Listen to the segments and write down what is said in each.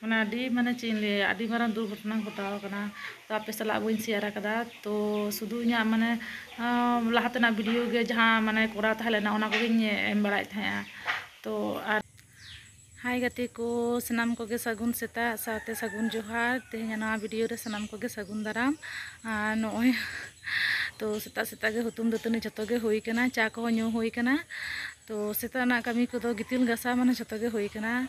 ᱢᱟᱱᱮ ᱟᱹᱰᱤ ᱢᱟᱱᱮ ᱪᱮᱫ ᱤᱧ ᱞᱟᱹᱭᱟ ᱟᱹᱰᱤ ᱢᱟᱨᱟᱝ ᱫᱩᱨᱜᱷᱚᱴᱚᱱᱟ ᱜᱷᱚᱴᱟᱣ ᱟᱠᱟᱱᱟ ᱛᱚ ᱟᱯᱮ ᱥᱟᱞᱟᱜ ᱵᱟᱹᱧ ᱥᱮᱭᱟᱨ ᱟᱠᱟᱫᱟ ᱛᱚ ᱥᱩᱫᱩ ᱤᱧᱟᱹᱜ ᱢᱟᱱᱮ ᱞᱟᱦᱟ ᱛᱮᱱᱟᱜ ᱵᱷᱤᱰᱤᱭᱳ ᱜᱮ ᱡᱟᱦᱟᱸ ᱢᱟᱱᱮ ᱠᱚᱨᱟᱣ ᱛᱟᱦᱮᱸ ᱞᱮᱱᱟ ᱚᱱᱟ ᱠᱚᱜᱮᱧ ᱮᱢ ᱵᱟᱲᱟᱭᱮᱫ ᱛᱟᱦᱮᱸᱜᱼᱟ ᱛᱚ ᱟᱨ ᱦᱟᱭ ᱜᱟᱛᱮ ᱠᱚ ᱥᱟᱱᱟᱢ ᱠᱚᱜᱮ ᱥᱟᱹᱜᱩᱱ ᱥᱮᱛᱟᱜ ᱥᱟᱶᱛᱮ ᱥᱟᱹᱜᱩᱱ ᱡᱚᱦᱟᱨ ᱛᱮᱦᱮᱧ ᱱᱚᱣᱟ ᱵᱷᱤᱰᱤᱭᱳ ᱨᱮ ᱥᱟᱱᱟᱢ ᱠᱚᱜᱮ ᱥᱟᱹᱜᱩᱱ ᱫᱟᱨᱟᱢ ᱟᱨ ᱱᱚᱜᱼᱚᱭ ᱛᱚ ᱥᱮᱛᱟᱜ ᱥᱮᱛᱟᱜ ᱜᱮ ᱦᱩᱛᱩᱢ ᱫᱟᱹᱛᱟᱹᱱᱤ ᱡᱚᱛᱚ ᱜᱮ ᱦᱩᱭ ᱠᱟᱱᱟ ᱪᱟ ᱠᱚᱦᱚᱸ ᱧᱩ ᱦᱩᱭ ᱠᱟᱱᱟ ᱛᱚ ᱥᱮᱛᱟᱜ ᱨᱮᱱᱟᱜ ᱠᱟᱹᱢᱤ ᱠᱚᱫᱚ ᱜᱤᱛᱤᱞ ᱜᱟᱥᱟᱣ ᱢᱟᱱᱮ ᱡᱚᱛᱚ ᱜᱮ ᱦᱩᱭ ᱠᱟᱱᱟ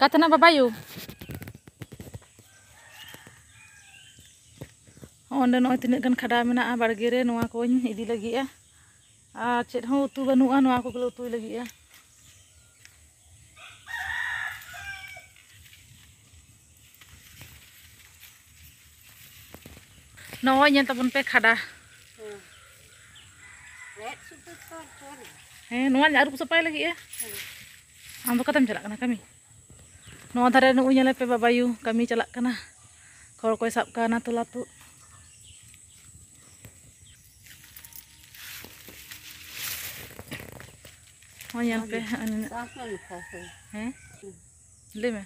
ᱠᱟᱛᱱᱟ ᱵᱟᱵᱟᱭᱩ ᱚᱸᱰᱮ ᱱᱚᱜᱼᱚᱭ ᱛᱤᱱᱟᱹᱜ ᱜᱟᱱ ᱠᱷᱟᱰᱟ ᱢᱮᱱᱟᱜᱼᱟ ᱵᱟᱲᱜᱮ ᱨᱮ ᱱᱚᱣᱟ ᱠᱚᱧ ᱤᱫᱤ ᱞᱟᱹᱜᱤᱫᱼᱟ ᱟᱨ ᱪᱮᱫ ᱦᱚᱸ ᱩᱛᱩ ᱵᱟᱹᱱᱩᱜᱼᱟ ᱱᱚᱣᱟ ᱠᱚᱜᱮᱞᱮ ᱩᱛᱩᱭ ᱞᱟᱹᱜᱤᱫᱼᱟ ᱱᱚᱜᱼᱚᱭ ᱧᱮᱞ ᱛᱟᱵᱚᱱ ᱯᱮ ᱠᱷᱟᱰᱟ ᱦᱮᱸ ᱱᱚᱣᱟᱧ ᱟᱹᱨᱩᱵ ᱥᱟᱯᱷᱟᱭ ᱞᱟᱹᱜᱤᱫᱼᱟ ᱟᱢ ᱫᱚ ᱚᱠᱟᱛᱮᱢ ᱪᱟᱞᱟᱜ ᱠᱟᱱᱟ ᱠᱟᱹᱢᱤ ᱱᱚᱣᱟ ᱫᱷᱟᱨᱮ ᱱᱩᱜᱼᱩᱭ ᱧᱮᱞᱮ ᱯᱮ ᱵᱟᱵᱟᱭᱩ ᱠᱟᱹᱢᱤ ᱪᱟᱞᱟᱜ ᱠᱟᱱᱟ ᱠᱷᱚᱲ ᱠᱚᱭ ᱥᱟᱵ ᱠᱟᱣᱱᱟ ᱛᱚᱞᱟ ᱛᱩᱫ ᱦᱚᱸ ᱧᱮᱞ ᱯᱮ ᱦᱮᱸ ᱞᱟᱹᱭ ᱢᱮ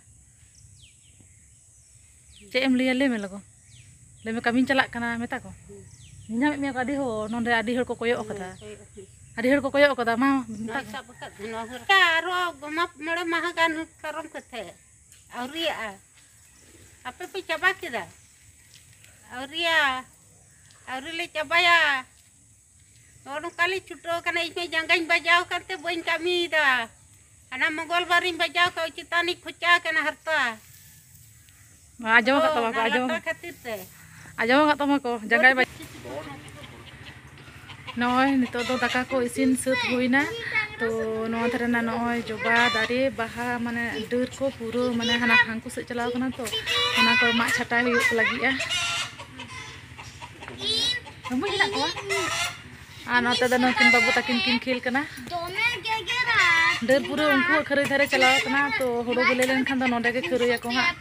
ᱪᱮᱫ ᱮᱢ ᱞᱟᱹᱭᱟ ᱞᱟᱹᱭ ᱢᱮ ᱞᱚᱜᱚᱱ ᱞᱟᱹᱭ ᱢᱮ ᱠᱟᱹᱢᱤᱧ ᱪᱟᱞᱟᱜ ᱠᱟᱱᱟ ᱢᱮᱛᱟ ᱠᱚ ᱧᱟᱢᱮᱫ ᱢᱮᱭᱟ ᱠᱚ ᱟᱹᱰᱤ ᱦᱚᱲ ᱱᱚᱸᱰᱮ ᱟᱹᱰᱤ ᱦᱚᱲ ᱠᱚ ᱠᱚᱭᱚᱜ ᱟᱠᱟᱫᱟ ᱟᱹᱰᱤ ᱦᱚᱲ ᱠᱚ ᱠᱚᱭᱚᱜ ᱟᱠᱟᱫᱟ ᱢᱟ ᱢᱮᱛᱟ ᱠᱚ ᱟᱨᱚ ᱢᱟᱜ ᱢᱚᱬᱮ ᱢᱟᱦᱟ ᱜᱟᱱ ᱯᱟᱨᱚᱢ ᱠᱟᱛᱮ ᱟᱹᱣᱨᱤᱭᱟᱜᱼᱟ ᱟᱯᱮ ᱯᱮ ᱪᱟᱵᱟ ᱠᱮᱫᱟ ᱟᱹᱣᱨᱤᱭᱟ ᱟᱹᱣᱨᱤ ᱞᱮ ᱪᱟᱵᱟᱭᱟ ᱱᱚᱜᱼᱚ ᱱᱚᱝᱠᱟᱞᱤᱧ ᱪᱷᱩᱴᱟᱹᱣ ᱠᱟᱱᱟ ᱤᱧᱢᱟ ᱡᱟᱸᱜᱟᱧ ᱵᱟᱡᱟᱣ ᱠᱟᱱᱛᱮ ᱵᱟᱹᱧ ᱠᱟᱹᱢᱤᱭᱮᱫᱟ ᱦᱟᱱᱟ ᱢᱚᱝᱜᱚᱞ ᱵᱟᱨᱤᱧ ᱵᱟᱡᱟᱣ ᱠᱟᱜ ᱪᱮᱛᱟᱱᱤᱧ ᱠᱷᱚᱪᱟ ᱠᱟᱱᱟ ᱦᱟᱨᱛᱟ ᱟᱸᱡᱚᱢ ᱠᱟᱜ ᱛᱟᱢᱟ ᱠᱚ ᱟᱸᱡᱚᱢ ᱠᱷᱟᱹᱛᱤᱨ ᱛᱮ ᱟᱸᱡᱚᱢ ᱠᱟᱜ ᱛᱟᱢᱟ ᱠᱚ ᱡᱟᱸᱜᱟᱭ ᱱᱚᱜᱼᱚᱭ ᱱᱤᱛᱚᱜ ᱫᱚ ᱫᱟᱠᱟ ᱠᱚ ᱤᱥᱤᱱ ᱥᱟᱹᱛ ᱦᱩᱭᱱᱟ ᱛᱚ ᱱᱚᱣᱟ ᱫᱷᱟᱨᱮ ᱨᱮᱱᱟᱜ ᱱᱚᱜᱼᱚᱭ ᱡᱚᱵᱟ ᱫᱟᱨᱮ ᱵᱟᱦᱟ ᱢᱟᱱᱮ ᱰᱟᱹᱨ ᱠᱚ ᱯᱩᱨᱟᱹ ᱢᱟᱱᱮ ᱦᱟᱱᱟ ᱦᱟᱝᱠᱩ ᱥᱮᱫ ᱪᱟᱞᱟᱣ ᱠᱟᱱᱟ ᱛᱚ ᱚᱱᱟ ᱠᱚ ᱢᱟᱜ ᱪᱷᱟᱴᱟᱭ ᱦᱩᱭᱩᱜ ᱞᱟᱹᱜᱤᱫᱼᱟ ᱵᱩᱡᱽ ᱦᱮᱱᱟᱜ ᱠᱚᱣᱟ ᱟᱨ ᱱᱚᱛᱮ ᱫᱚ ᱱᱩᱠᱤᱱ ᱵᱟᱹᱵᱩ ᱛᱟᱹᱠᱤᱱ ᱠᱤᱱ ᱠᱷᱮᱞ ᱠᱟᱱᱟ ᱰᱟᱹᱨ ᱯᱩᱨᱟᱹ ᱩᱱᱠᱩᱣᱟᱜ ᱠᱷᱟᱹᱨᱟᱹᱭ ᱫᱷᱟᱨᱮ ᱪᱟᱞᱟᱣ ᱠᱟᱱᱟ ᱛᱚ ᱦᱩᱲᱩ ᱵᱤᱞᱤ ᱞᱮᱱᱠᱷᱟᱱ ᱫᱚ ᱱᱚᱰᱮ ᱜᱮ ᱠᱷᱟᱹᱨᱟᱹᱭᱟᱠᱚ ᱦᱟᱸᱜ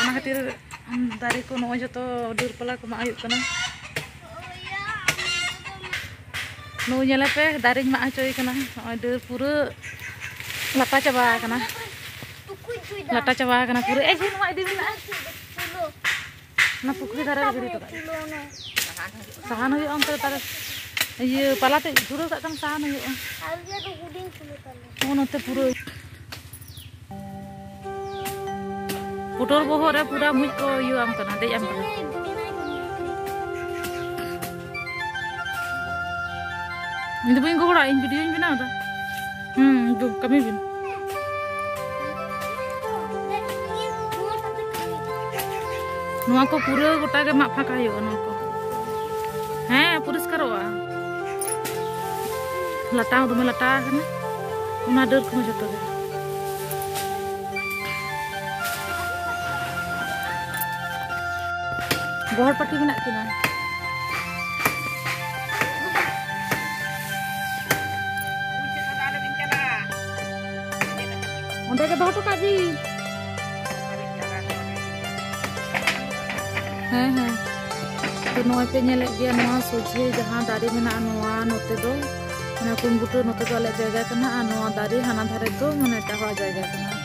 ᱚᱱᱟ ᱠᱷᱟᱹᱛᱤᱨ ᱫᱟᱨᱮ ᱠᱚ ᱱᱚᱜᱼᱚᱭ ᱡᱚᱛᱚ ᱰᱟᱹᱨ ᱯᱟᱞᱟ ᱠᱚ ᱢᱟᱜ ᱦᱩᱭᱩᱜ ᱠᱟᱱᱟ ᱱᱩᱭ ᱧᱮᱞᱮ ᱯᱮ ᱫᱟᱨᱮᱧ ᱢᱟᱜ ᱦᱚᱪᱚᱭ ᱠᱟᱱᱟ ᱱᱚᱜᱼᱚᱭ ᱰᱟᱹᱨ ᱯᱩᱨᱟᱹ ᱞᱟᱴᱟ ᱪᱟᱵᱟ ᱟᱠᱟᱱᱟ ᱞᱟᱴᱟ ᱪᱟᱵᱟ ᱟᱠᱟᱱᱟ ᱯᱩᱨᱟᱹ ᱮ ᱡᱮ ᱱᱚᱣᱟ ᱤᱫᱤ ᱢᱮᱱᱟᱜᱼᱟ ᱚᱱᱟ ᱯᱩᱠᱷᱨᱤ ᱫᱷᱟᱨᱮ ᱨᱮ ᱜᱤᱰᱤ ᱦᱚᱴᱚ ᱠᱟᱜ ᱥᱟᱦᱟᱱ ᱦᱩᱭᱩᱜᱼᱟ ᱚᱱᱛᱮ ᱛᱟᱦᱚᱞᱮ ᱤᱭᱟᱹ ᱯᱟᱞᱟ ᱛᱮ ᱫᱷᱩᱨᱟᱹᱣ ᱠᱟᱜ ᱠᱷᱟᱱ ᱥᱟᱦᱟᱱ ᱦᱩᱭᱩᱜᱼᱟ ᱦᱚᱸ ᱱᱚᱛᱮ ᱯᱩᱨᱟᱹ ᱯᱩᱴᱚᱨ ᱵᱚᱦᱚᱜ ᱨᱮ ᱯᱩᱨᱟᱹ ᱢᱩᱡ ᱠᱚ ᱤᱭᱟᱹ ᱟᱢ ᱠᱟᱱᱟ ᱫᱮᱡ ᱟᱢ ᱠᱟᱱᱟ ᱤᱧ ᱫᱚ ᱵᱟᱹᱧ ᱜᱚᱦᱚᱲᱟ ᱤᱧ ᱵᱷᱤᱰᱤᱭᱳᱧ ᱵᱮᱱᱟᱣ ᱮᱫᱟ ᱦᱩᱸ ᱫᱩ ᱠᱟᱹᱢᱤ ᱵᱤᱱ ᱱᱚᱣᱟ ᱠᱚ ᱯᱩᱨᱟᱹ ᱜᱚᱴᱟ ᱜᱮ ᱢᱟᱜ ᱯᱷᱟᱸᱠᱟ ᱦᱩᱭᱩᱜᱼᱟ ᱱᱚᱣᱟ ᱠᱚ ᱦᱮᱸ ᱯᱚᱨᱤᱥᱠᱟᱨᱚᱜᱼᱟ ᱞᱟᱴᱟ ᱦᱚᱸ ᱫᱚᱢᱮ ᱞᱟᱴᱟ ᱟᱠᱟᱱᱟ ᱚᱱᱟ ᱰᱟᱹᱨ ᱠᱚᱦᱚᱸ ᱡᱚᱛᱚ ᱜᱮ ᱜᱚᱦᱚᱲ ᱯᱟᱹᱴᱤ ᱢᱮᱱᱟᱜ ᱠᱤᱱᱟ ᱚᱸᱰᱮ ᱜᱮ ᱫᱚᱦᱚ ᱦᱚᱴᱚ ᱠᱟᱜ ᱵᱤᱱ ᱦᱮᱸ ᱦᱮᱸ ᱛᱚ ᱱᱚᱜᱼᱚᱭ ᱯᱮ ᱧᱮᱞᱮᱫ ᱜᱮᱭᱟ ᱱᱚᱣᱟ ᱥᱚᱡᱷᱮ ᱡᱟᱦᱟᱸ ᱫᱟᱨᱮ ᱢᱮᱱᱟᱜᱼᱟ ᱱᱚᱣᱟ ᱱᱚᱛᱮ ᱫᱚ ᱚᱱᱟ ᱠᱩᱢᱵᱩᱴᱟᱹ ᱱᱚᱛᱮ ᱫᱚ ᱟᱞᱮᱭᱟᱜ ᱡᱟᱭᱜᱟ ᱠᱟᱱᱟ ᱟᱨ ᱱᱚᱣᱟ ᱫᱟᱨᱮ ᱦᱟᱱᱟ ᱫᱷᱟᱨᱮ ᱫᱚ ᱢᱟᱱᱮ ᱮᱴᱟᱜ ᱦᱚᱲᱟᱜ ᱡᱟᱭᱜᱟ ᱠᱟᱱᱟ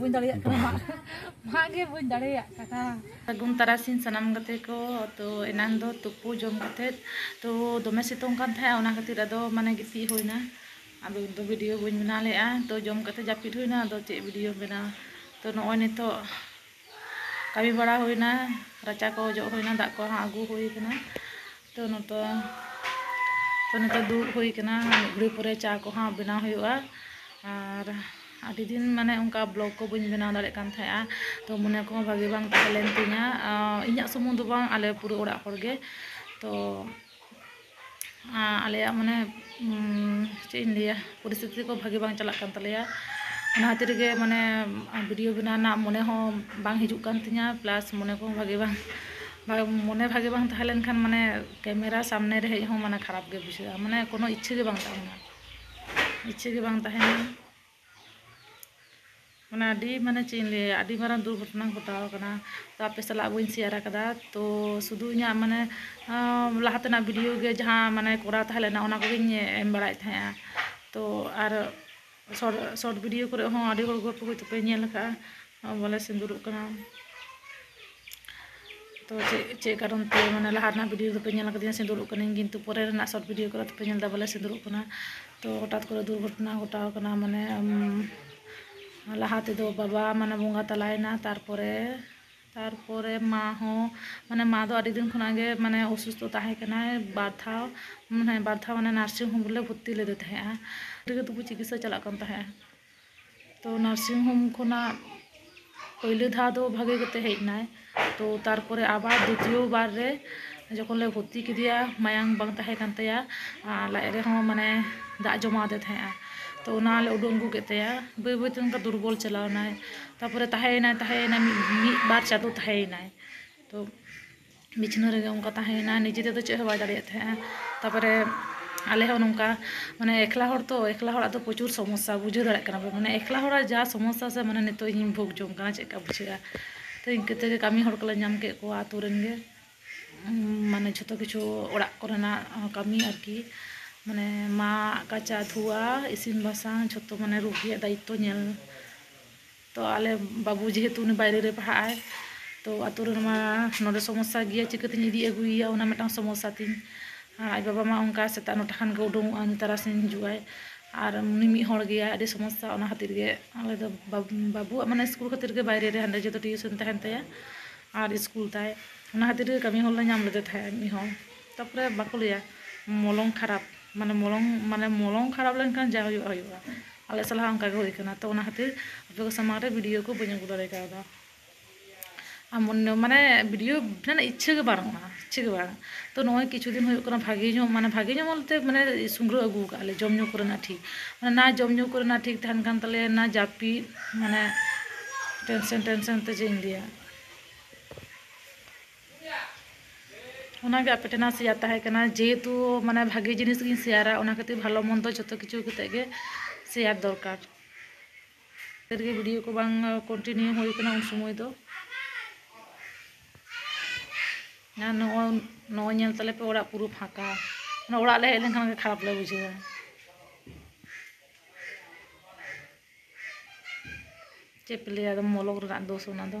ᱵᱟᱹᱧ ᱫᱟᱲᱮᱭᱟᱜ ᱠᱟᱱᱟ ᱢᱟᱜ ᱜᱮ ᱵᱟᱹᱧ ᱫᱟᱲᱮᱭᱟᱜ ᱠᱟᱱᱟ ᱥᱟᱹᱜᱩᱱ ᱛᱟᱨᱟᱥᱤᱧ ᱥᱟᱱᱟᱢ ᱜᱟᱛᱮ ᱠᱚ ᱛᱚ ᱮᱱᱟᱱ ᱫᱚ ᱛᱩᱯᱩ ᱡᱚᱢ ᱠᱟᱛᱮ ᱛᱚ ᱫᱚᱢᱮ ᱥᱤᱛᱩᱝ ᱠᱟᱱ ᱛᱟᱦᱮᱸᱜᱼᱟ ᱚᱱᱟ ᱠᱷᱟᱹᱛᱤᱨ ᱟᱫᱚ ᱢᱟᱱᱮ ᱜᱤᱛᱤᱡ ᱦᱩᱭᱱᱟ ᱟᱫᱚ ᱫᱚ ᱵᱷᱤᱰᱤᱭᱳ ᱵᱟᱹᱧ ᱵᱮᱱᱟᱣ ᱞᱮᱜᱼᱟ ᱛᱚ ᱡᱚᱢ ᱠᱟᱛᱮ ᱡᱟᱹᱯᱤᱫ ᱦᱩᱭᱱᱟ ᱟᱫᱚ ᱪᱮᱫ ᱵᱷᱤᱰᱤᱭᱳᱢ ᱵᱮᱱᱟᱣᱟ ᱛᱚ ᱱᱚᱜᱼᱚᱭ ᱱᱤᱛᱚᱜ ᱠᱟᱹᱢᱤ ᱵᱟᱲᱟ ᱦᱩᱭᱱᱟ ᱨᱟᱪᱟ ᱠᱚ ᱚᱡᱚᱜ ᱦᱩᱭᱱᱟ ᱫᱟᱜ ᱠᱚ ᱦᱟᱸᱜ ᱟᱹᱜᱩ ᱦᱩᱭ ᱠᱟᱱᱟ ᱛᱚ ᱱᱤᱛᱚᱜ ᱛᱚ ᱱᱤᱛᱚᱜ ᱫᱩᱲᱩᱵ ᱦᱩᱭ ᱠᱟᱱᱟ ᱢᱤᱫ ᱜᱷᱟᱹᱲᱤ ᱯᱚᱨᱮ ᱪᱟ ᱠᱚ ᱦᱟᱸᱜ ᱵᱮᱱᱟᱣ ᱦᱩᱭᱩᱜᱼᱟ ᱟᱨ ᱟᱹᱰᱤ ᱫᱤᱱ ᱢᱟᱱᱮ ᱚᱱᱠᱟ ᱵᱞᱚᱜᱽ ᱠᱚ ᱵᱟᱹᱧ ᱵᱮᱱᱟᱣ ᱫᱟᱲᱮᱭᱟᱜ ᱠᱟᱱ ᱛᱟᱦᱮᱸᱜᱼᱟ ᱛᱚ ᱢᱚᱱᱮ ᱠᱚᱦᱚᱸ ᱵᱷᱟᱹᱜᱤ ᱵᱟᱝ ᱛᱟᱦᱮᱸ ᱞᱮᱱ ᱛᱤᱧᱟᱹ ᱤᱧᱟᱹᱜ ᱥᱩᱢᱩᱝ ᱫᱚ ᱵᱟᱝ ᱟᱞᱮ ᱯᱩᱨᱟᱹ ᱚᱲᱟᱜ ᱦᱚᱲ ᱜᱮ ᱛᱚ ᱟᱞᱮᱭᱟᱜ ᱢᱟᱱᱮ ᱪᱮᱫ ᱤᱧ ᱞᱟᱹᱭᱟ ᱯᱚᱨᱤᱥᱛᱷᱤᱛᱤ ᱠᱚ ᱵᱷᱟᱹᱜᱤ ᱵᱟᱝ ᱪᱟᱞᱟᱜ ᱠᱟᱱ ᱛᱟᱞᱮᱭᱟ ᱚᱱᱟ ᱠᱷᱟᱹᱛᱤᱨ ᱜᱮ ᱢᱟᱱᱮ ᱵᱷᱤᱰᱤᱭᱳ ᱵᱮᱱᱟᱣ ᱨᱮᱱᱟᱜ ᱢᱚᱱᱮ ᱦᱚᱸ ᱵᱟᱝ ᱦᱤᱡᱩᱜ ᱠᱟᱱ ᱛᱤᱧᱟᱹ ᱯᱞᱟᱥ ᱢᱚᱱᱮ ᱠᱚᱦᱚᱸ ᱵᱷᱟᱹᱜᱤ ᱵᱟᱝ ᱢᱚᱱᱮ ᱵᱷᱟᱹᱜᱤ ᱵᱟᱝ ᱛᱟᱦᱮᱸ ᱞᱮᱱᱠᱷᱟᱱ ᱢᱟᱱᱮ ᱠᱮᱢᱮᱨᱟ ᱥᱟᱢᱱᱮ ᱨᱮ ᱦᱮᱡ ᱦᱚᱸ ᱢᱟᱱᱮ ᱠᱷᱟᱨᱟᱯ ᱜᱮ ᱵᱩᱡᱷᱟᱹᱜᱼᱟ ᱢᱟᱱᱮ ᱠᱳᱱᱳ ᱤᱪᱪᱷᱟᱹ ᱜᱮ ᱵᱟᱝ ᱛᱟᱦᱮᱱᱟ ᱤᱪᱪᱷᱟᱹ ᱜᱮ ᱵᱟᱝ ᱛᱟᱦᱮᱱᱟ ᱢᱟᱱᱮ ᱟᱹᱰᱤ ᱢᱟᱱᱮ ᱪᱮᱫ ᱤᱧ ᱞᱟᱹᱭᱟ ᱟᱹᱰᱤ ᱢᱟᱨᱟᱝ ᱫᱩᱨᱜᱷᱚᱴᱚᱱᱟ ᱜᱷᱚᱴᱟᱣ ᱠᱟᱱᱟ ᱛᱚ ᱟᱯᱮ ᱥᱟᱞᱟᱜ ᱵᱟᱹᱧ ᱥᱮᱭᱟᱨ ᱠᱟᱫᱟ ᱛᱚ ᱥᱩᱫᱩ ᱤᱧᱟᱹᱜ ᱢᱟᱱᱮ ᱞᱟᱦᱟ ᱛᱮᱱᱟᱜ ᱵᱷᱤᱰᱤᱭᱳ ᱜᱮ ᱡᱟᱦᱟᱸ ᱢᱟᱱᱮ ᱠᱚᱨᱟᱣ ᱛᱟᱦᱮᱸ ᱞᱮᱱᱟ ᱚᱱᱟ ᱠᱚᱜᱮᱧ ᱮᱢ ᱵᱟᱲᱟᱭᱮᱫ ᱛᱟᱦᱮᱸᱜᱼᱟ ᱛᱚ ᱟᱨ ᱥᱚᱨᱴ ᱵᱷᱤᱰᱤᱭᱳ ᱠᱚᱨᱮ ᱦᱚᱸ ᱟᱹᱰᱤ ᱦᱚᱲ ᱜᱚᱞᱯᱚ ᱦᱚᱭᱛᱳ ᱯᱮ ᱧᱮᱞ ᱠᱟᱜᱼᱟ ᱵᱚᱞᱮ ᱥᱤᱸᱫᱩᱨᱚᱜ ᱠᱟᱱᱟ ᱛᱚ ᱪᱮᱫ ᱠᱟᱨᱚᱱ ᱛᱮ ᱢᱟᱱᱮ ᱞᱟᱦᱟ ᱨᱮᱱᱟᱜ ᱵᱷᱤᱰᱤᱭᱳ ᱫᱚᱯᱮ ᱧᱮᱞ ᱟᱠᱟᱫᱤᱧᱟ ᱥᱤᱸᱫᱩᱨᱚᱜ ᱠᱟᱹᱱᱟᱹᱧ ᱠᱤᱱᱛᱩ ᱯᱚᱨᱮ ᱨᱮᱱᱟᱜ ᱥᱚᱨᱴ ᱵᱷᱤᱰᱤᱭᱳ ᱠᱚᱨᱮ ᱫᱚᱯᱮ ᱧᱮᱞ ᱮᱫᱟ ᱵᱚᱞᱮ ᱥᱤᱸᱫᱩᱨᱚᱜ ᱠᱟᱱᱟ ᱛᱚ ᱦᱚᱴᱟᱛ ᱠᱚᱨᱮ ᱫᱩᱨᱜᱷᱚᱴᱚᱱᱟ ᱜᱷᱚᱴᱟᱣ ᱠᱟᱱᱟ ᱢᱟᱱᱮ ᱞᱟᱦᱟ ᱛᱮᱫᱚ ᱵᱟᱵᱟ ᱢᱟᱱᱮ ᱵᱚᱸᱜᱟ ᱛᱟᱞᱟᱭᱮᱱᱟ ᱛᱟᱨᱯᱚᱨᱮ ᱛᱟᱨᱯᱚᱨᱮ ᱢᱟ ᱦᱚᱸ ᱢᱟᱱᱮ ᱢᱟ ᱫᱚ ᱟᱹᱰᱤ ᱫᱤᱱ ᱠᱷᱚᱱᱟᱜ ᱜᱮ ᱢᱟᱱᱮ ᱚᱥᱩᱥᱛᱷᱚ ᱛᱟᱦᱮᱸ ᱠᱟᱱᱟᱭ ᱵᱟᱨ ᱫᱷᱟᱣ ᱢᱟᱱᱮ ᱵᱟᱨ ᱫᱷᱟᱣ ᱢᱟᱱᱮ ᱱᱟᱨᱥᱤᱝ ᱦᱳᱢ ᱨᱮᱞᱮ ᱵᱷᱚᱨᱛᱤ ᱞᱮᱫᱮ ᱛᱟᱦᱮᱸᱫᱼᱟ ᱟᱹᱰᱤ ᱜᱮ ᱛᱚᱵᱩ ᱪᱤᱠᱤᱛᱥᱟ ᱪᱟᱞᱟᱜ ᱠᱟᱱ ᱛᱟᱦᱮᱸᱫᱼᱟ ᱛᱚ ᱱᱟᱨᱥᱤᱝ ᱦᱳᱢ ᱠᱷᱚᱱᱟᱜ ᱯᱳᱭᱞᱳ ᱫᱷᱟᱣ ᱫᱚ ᱵᱷᱟᱜᱮ ᱠᱟᱛᱮ ᱦᱮᱡ ᱮᱱᱟᱭ ᱛᱚ ᱛᱟᱨᱯᱚᱨᱮ ᱟᱵᱟᱨ ᱫᱤᱛᱤᱭᱚ ᱵᱟᱨ ᱨᱮ ᱡᱚᱠᱷᱚᱱ ᱞᱮ ᱵᱷᱚᱨᱛᱤ ᱠᱮᱫᱮᱭᱟ ᱢᱟᱭᱟᱝ ᱵᱟᱝ ᱛᱟᱦᱮᱸ ᱠᱟᱱ ᱛᱟᱭᱟ ᱟᱨ ᱞᱟᱡ ᱨᱮᱦᱚᱸ ᱢᱟᱱᱮ ᱫᱟᱜ ᱡᱚᱢᱟᱣ ᱟᱫᱮ ᱛᱟᱦᱮᱸᱜᱼᱟ ᱛᱚ ᱚᱱᱟ ᱞᱮ ᱩᱰᱩᱝ ᱟᱹᱜᱩ ᱠᱮᱫ ᱛᱟᱭᱟ ᱵᱟᱹᱭ ᱵᱟᱹᱭ ᱛᱮ ᱚᱱᱠᱟ ᱫᱩᱨᱵᱚᱞ ᱪᱟᱞᱟᱣ ᱮᱱᱟᱭ ᱛᱟᱨᱯᱚᱨᱮ ᱛᱟᱦᱮᱸᱭᱮᱱᱟᱭ ᱛᱟᱦᱮᱸᱭᱮᱱᱟᱭ ᱢᱤᱫ ᱵᱟᱨ ᱪᱟᱸᱫᱚ ᱛᱟᱦᱮᱸᱭᱮᱱᱟᱭ ᱛᱚ ᱵᱤᱪᱷᱱᱟᱹ ᱨᱮᱜᱮ ᱚᱱᱠᱟ ᱛᱟᱦᱮᱸᱭᱮᱱᱟ ᱱᱤᱡᱮ ᱛᱮᱫᱚ ᱪᱮᱫ ᱦᱚᱸ ᱵᱟᱭ ᱫᱟᱲᱮᱭᱟᱜ ᱛᱟᱦᱮᱸᱜᱼᱟ ᱛᱟᱨᱯᱚᱨᱮ ᱟᱞᱮ ᱦᱚᱸ ᱱᱚᱝᱠᱟ ᱢᱟᱱᱮ ᱮᱠᱞᱟ ᱦᱚᱲ ᱛᱚ ᱮᱠᱞᱟ ᱦᱚᱲᱟᱜ ᱫᱚ ᱯᱨᱚᱪᱩᱨ ᱥᱚᱢᱚᱥᱥᱟ ᱵᱩᱡᱷᱟᱹᱣ ᱫᱟᱲᱮᱭᱟᱜ ᱠᱟᱱᱟ ᱯᱮ ᱢᱟᱱᱮ ᱮᱠᱞᱟ ᱦᱚᱲᱟᱜ ᱡᱟ ᱥᱚᱢᱚᱥᱥᱟ ᱥᱮ ᱢᱟᱱᱮ ᱱᱤᱛᱚᱜ ᱤᱧᱤᱧ ᱵᱷᱳᱜᱽ ᱡᱚᱝ ᱠᱟᱱᱟ ᱪᱮᱫᱠᱟ ᱵᱩᱡᱷᱟᱹᱜᱼᱟ ᱛᱚ ᱤᱱᱠᱟᱹ ᱛᱮᱜᱮ ᱠᱟᱹᱢᱤ ᱦᱚᱲ ᱠᱚᱞᱮ ᱧᱟᱢ ᱠᱮᱫ ᱠᱚᱣᱟ ᱟᱹᱛᱩ ᱨᱮᱱ ᱜᱮ ᱢᱟᱱᱮ ᱡᱷᱚᱛᱚ ᱠᱤᱪᱷᱩ ᱚᱲᱟᱜ ᱠᱚᱨᱮᱱᱟᱜ ᱠᱟᱹᱢᱤ ᱟᱨᱠᱤ ᱢᱟᱱᱮ ᱢᱟᱜ ᱠᱟᱪᱟ ᱫᱷᱩᱣᱟ ᱤᱥᱤᱱ ᱵᱟᱥᱟᱝ ᱡᱷᱚᱛᱚ ᱢᱟᱱᱮ ᱨᱩᱜᱤᱭᱟᱜ ᱫᱟᱭᱤᱛᱛᱚ ᱧᱮᱞ ᱛᱚ ᱟᱞᱮ ᱵᱟᱹᱵᱩ ᱡᱮᱦᱮᱛᱩ ᱩᱱᱤ ᱵᱟᱭᱨᱮ ᱨᱮ ᱯᱟᱲᱦᱟᱜ ᱟᱭ ᱛᱚ ᱟᱹᱛᱩ ᱨᱮᱱ ᱢᱟ ᱱᱚᱰᱮ ᱥᱚᱢᱚᱥᱥᱟ ᱜᱮᱭᱟ ᱪᱤᱠᱟᱹᱛᱤᱧ ᱤᱫᱤ ᱟᱹᱜᱩᱭᱮᱭᱟ ᱚᱱᱟ ᱢᱤᱫᱴᱟᱝ ᱥᱚᱢᱚᱥᱥᱟ ᱛᱤᱧ ᱟᱨ ᱟᱡ ᱵᱟᱵᱟ ᱢᱟ ᱚᱱᱠᱟ ᱥᱮᱛᱟᱜ ᱱᱚᱴᱟ ᱠᱷᱟᱱ ᱜᱮ ᱩᱰᱩᱠᱚᱜ ᱟᱭ ᱛᱟᱨᱟᱥᱤᱧ ᱦᱤᱡᱩᱜ ᱟᱭ ᱟᱨ ᱩᱱᱤ ᱢᱤᱫ ᱦᱚᱲ ᱜᱮᱭᱟᱭ ᱟᱹᱰᱤ ᱥᱚᱢᱚᱥᱥᱟ ᱚᱱᱟ ᱠᱷᱟᱹᱛᱤᱨ ᱜᱮ ᱟᱞᱮ ᱫᱚ ᱵᱟᱹᱵᱩᱣᱟᱜ ᱢᱟᱱᱮ ᱥᱠᱩᱞ ᱠᱷᱟᱹᱛᱤᱨ ᱜᱮ ᱵᱟᱭᱨᱮ ᱨᱮ ᱦᱟᱸᱰᱮ ᱡᱚᱛᱚ ᱴᱤᱭᱩᱥᱚᱱ ᱛᱟᱦᱮᱱ ᱛᱟᱭᱟ ᱟᱨ ᱥᱠᱩᱞ ᱛᱟᱭ ᱚᱱᱟ ᱠᱷᱟᱹᱛᱤᱨ ᱜᱮ ᱠᱟᱹᱢᱤ ᱦᱚᱲᱞᱮ ᱧᱟᱢ ᱞᱮᱫᱮ ᱛᱟᱦᱮᱸᱫ ᱢᱤᱫ ᱦᱚᱲ ᱛᱟᱨᱯᱚᱨᱮ ᱵᱟᱠᱚ ᱞᱟᱹᱭᱟ ᱢᱚᱞᱚᱝ ᱠᱷᱟᱨᱟᱯ ᱢᱟᱱᱮ ᱢᱚᱞᱚᱝ ᱢᱟᱱᱮ ᱢᱚᱞᱚᱝ ᱠᱷᱟᱨᱟᱯ ᱞᱮᱱᱠᱷᱟᱱ ᱡᱟ ᱦᱩᱭᱩᱜᱼᱟ ᱦᱩᱭᱩᱜᱼᱟ ᱟᱞᱮ ᱥᱟᱞᱟᱜ ᱦᱚᱸ ᱚᱱᱠᱟᱜᱮ ᱦᱩᱭ ᱟᱠᱟᱱᱟ ᱛᱚ ᱚᱱᱟ ᱠᱷᱟᱹᱛᱤᱨ ᱟᱯᱮ ᱠᱚ ᱥᱟᱢᱟᱝ ᱨᱮ ᱵᱷᱤᱰᱤᱭᱳ ᱠᱚ ᱵᱟᱹᱧ ᱟᱹᱜᱩ ᱫᱟᱲᱮ ᱠᱟᱣᱫᱟ ᱟᱨ ᱢᱟᱱᱮ ᱵᱷᱤᱰᱤᱭᱳ ᱨᱮᱱᱟᱜ ᱤᱪᱪᱷᱟᱹ ᱜᱮ ᱵᱟᱹᱱᱩᱜᱼᱟ ᱤᱪᱪᱷᱟᱹ ᱜᱮ ᱵᱟᱝ ᱛᱚ ᱱᱚᱜᱼᱚᱭ ᱠᱤᱪᱷᱩ ᱫᱤᱱ ᱦᱩᱭᱩᱜ ᱠᱟᱱᱟ ᱵᱷᱟᱹᱜᱤ ᱧᱚᱜ ᱢᱟᱱᱮ ᱵᱷᱟᱹᱜᱤ ᱧᱚᱜ ᱵᱚᱞᱛᱮ ᱢᱟᱱᱮ ᱥᱩᱜᱽᱲᱟᱹ ᱟᱹᱜᱩ ᱟᱠᱟᱫ ᱟᱞᱮ ᱡᱚᱢᱼᱧᱩ ᱠᱚᱨᱮᱱᱟᱜ ᱴᱷᱤᱠ ᱢᱟᱱᱮ ᱱᱟ ᱡᱚᱢᱼᱧᱩ ᱠᱚᱨᱮᱱᱟᱜ ᱴᱷᱤᱠ ᱛᱟᱦᱮᱱ ᱠᱟᱱ ᱛᱟᱞᱮᱭᱟ ᱱᱟ ᱡᱟᱹᱯᱤᱫ ᱢᱟᱱᱮ ᱴᱮᱱᱥᱮᱱ ᱴᱮᱱᱥᱮᱱ ᱛᱮ ᱪᱮᱫ ᱤᱧ ᱞᱟᱹᱭᱟ ᱚᱱᱟ ᱜᱮ ᱟᱯᱮ ᱴᱷᱮᱱᱟᱜ ᱥᱮᱭᱟᱨ ᱛᱟᱦᱮᱸ ᱠᱟᱱᱟ ᱡᱮᱦᱮᱛᱩ ᱢᱟᱱᱮ ᱵᱷᱟᱜᱮ ᱡᱤᱱᱤᱥ ᱜᱤᱧ ᱥᱮᱭᱟᱨᱟ ᱚᱱᱟ ᱠᱷᱟᱹᱛᱤᱨ ᱵᱷᱟᱞᱚ ᱢᱚᱱᱫᱚ ᱡᱚᱛᱚ ᱠᱤᱪᱷᱩ ᱠᱟᱛᱮ ᱜᱮ ᱥᱮᱭᱟᱨ ᱫᱚᱨᱠᱟᱨ ᱠᱷᱟᱹᱛᱤᱨ ᱜᱮ ᱵᱷᱤᱰᱤᱭᱳ ᱠᱚ ᱵᱟᱝ ᱠᱚᱱᱴᱤᱱᱤᱭᱩ ᱦᱩᱭ ᱠᱟᱱᱟ ᱩᱱ ᱥᱚᱢᱚᱭ ᱫᱚ ᱟᱨ ᱱᱚᱜᱼᱚᱭ ᱱᱚᱜᱼᱚᱭ ᱧᱮᱞ ᱛᱟᱞᱮ ᱯᱮ ᱚᱲᱟᱜ ᱯᱩᱨᱟᱹ ᱯᱷᱟᱸᱠᱟ ᱚᱱᱟ ᱚᱲᱟᱜ ᱞᱮ ᱦᱮᱡ ᱞᱮᱱᱠᱷᱟᱱ ᱜᱮ ᱠᱷᱟᱨᱟᱯ ᱞᱮ ᱵᱩᱡᱷᱟᱹᱣᱟ ᱪᱮᱫ ᱯᱮ ᱞᱟᱹᱭᱟ ᱟᱫᱚ ᱢᱚᱞᱚᱝ ᱨᱮᱱᱟᱜ ᱫᱳᱥ ᱚᱱᱟ ᱫᱚ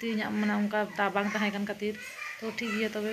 ᱛᱮᱦᱮᱧᱟᱜ ᱢᱟᱱᱮ ᱚᱱᱠᱟ ᱫᱟᱜ ᱵᱟᱝ ᱛᱟᱦᱮᱸ ᱠᱟᱱ ᱠᱷᱟᱹᱛᱤᱨ ᱛᱚ ᱴᱷᱤᱠ ᱜᱮᱭᱟ ᱛᱚᱵᱮ